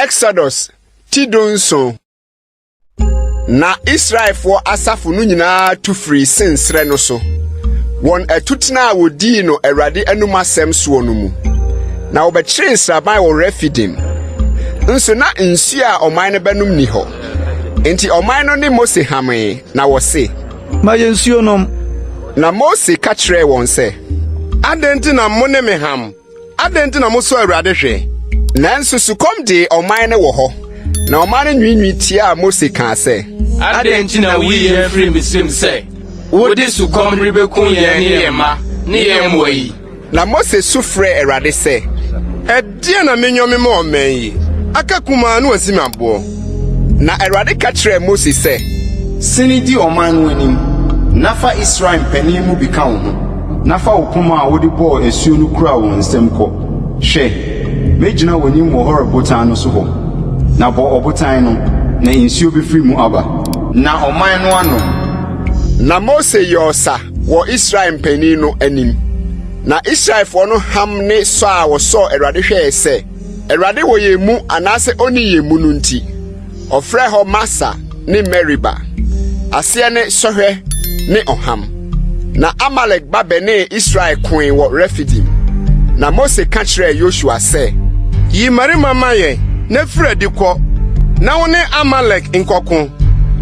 Exodus ti dunson na Israelfoɔ asafo no nyinaa tu firii sensrɛ no so wɔn atutena a wɔdii no Awurade anom asɛm soɔ no mu na wɔbɛkyeree nsraban wɔ Refidim nso na nsuo a ɔman no bɛnom ni hɔ enti ɔman no ne Mose hamee na wɔse ma yɛn nsuo nom. Na Mose ka kyerɛɛ wɔn sɛ, Adɛn nti na mo ne me ham? Adɛn nti na mosɔ Awurade hwɛ? Nanso sukɔm dee ɔman no wɔ hɔ, na ɔman no nwiinwii tiaa Mose kaa sɛ. Adɛn nti na woyi yɛn firii Misraim sɛ wode sukɔm rebekum yɛn ne yɛn mma ne yɛn mmoa yi? Na Mose su frɛɛ Awurade sɛ, Ɛdeɛn na menyɔ mema ɔman yi aka kumaa na wɔasi me aboɔ? Na Awurade ka kyerɛɛ Mose sɛ. Sini di ɔman no anim, na fa Israel mpanin mu bi ka wo ho, na fa wo poma a wode bɔɔ asuo no kura wɔ nsam kɔ. Hwɛ! Mɛgyina w'anim wɔ Horeb botan no so hɔ. Na bɔ ɔbotan no, na nsuo bɛfiri mu aba. Na ɔman no anom. Na Mose yɔɔ sa. wɔ Israel mpanin no anim. Na Israelfoɔ no ham ne sɔ a wɔsɔɔ Awurade hwɛɛ sɛ Awurade wɔ yɛn mu anaasɛ ɔnni yɛn mu no nti, ɔfrɛɛ hɔ Masa ne Meriba. Aseɛ ne sɔhwɛ ne ɔham. Na Amalek ba bɛnee Israel koe wɔ Refidim. Na Mose ka kyerɛɛ Yosua sɛ. Yi mmarima ma yɛn na firi adi kɔ, na wo ne Amalek nkɔko.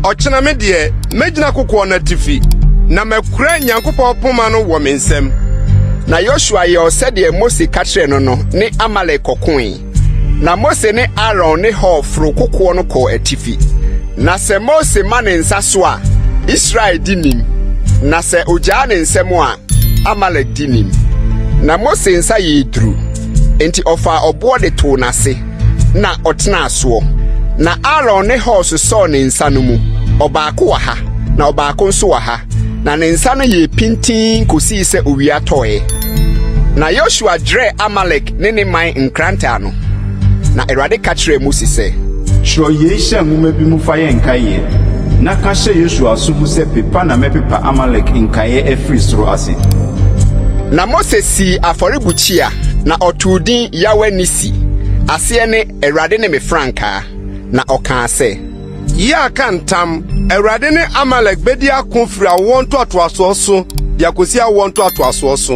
Ɔkyena me deɛ, Mɛgyina kokoɔ no atifi, na makura Nyankopɔn poma no wɔ me nsam. Na Yosua yɛɔ sɛdeɛ Mose ka kyerɛɛ no no ne Amalek kɔkoe. Na Mose ne Aaron ne Hur foro kokoɔ no kɔɔ atifi. Na sɛ Mose ma ne nsa so a, Israel di nim, na sɛ ɔgyaa ne nsam a, Amalek di nim. Na Mose nsa yɛɛ duru, enti ɔfaa ɔboɔ de too n'ase. na ɔtenaa soɔ. Na Aaron ne Hur sosɔɔ ne nsa no mu, ɔbaako wɔ ha, na ɔbaako nso wɔ ha, na ne nsa no yɛɛ pintinn kɔsii sɛ owia tɔeɛ. Na Yosua dwerɛɛ Amalek ne ne man nkrantɛ ano. Na Awurade ka kyerɛɛ Mose sɛ. Twerɛ yei hyɛ nwoma bi mu fa yɛ nkaeɛ, na ka hyɛ Yosua aso mu sɛ, 'Pepa na mɛpepa Amalek nkaeɛ afiri soro ase. Na Mose sii afɔrebukyia, na ɔtoo din Yahweh Nissi. ti. Aseɛ ne, Awurade ne me frankaa. Na ɔkaa sɛ. Yɛaka ntam, Awurade ne Amalek bɛdi ako firi awoɔ ntoatoasoɔ so de akɔsi awoɔ ntoatoasoɔ so.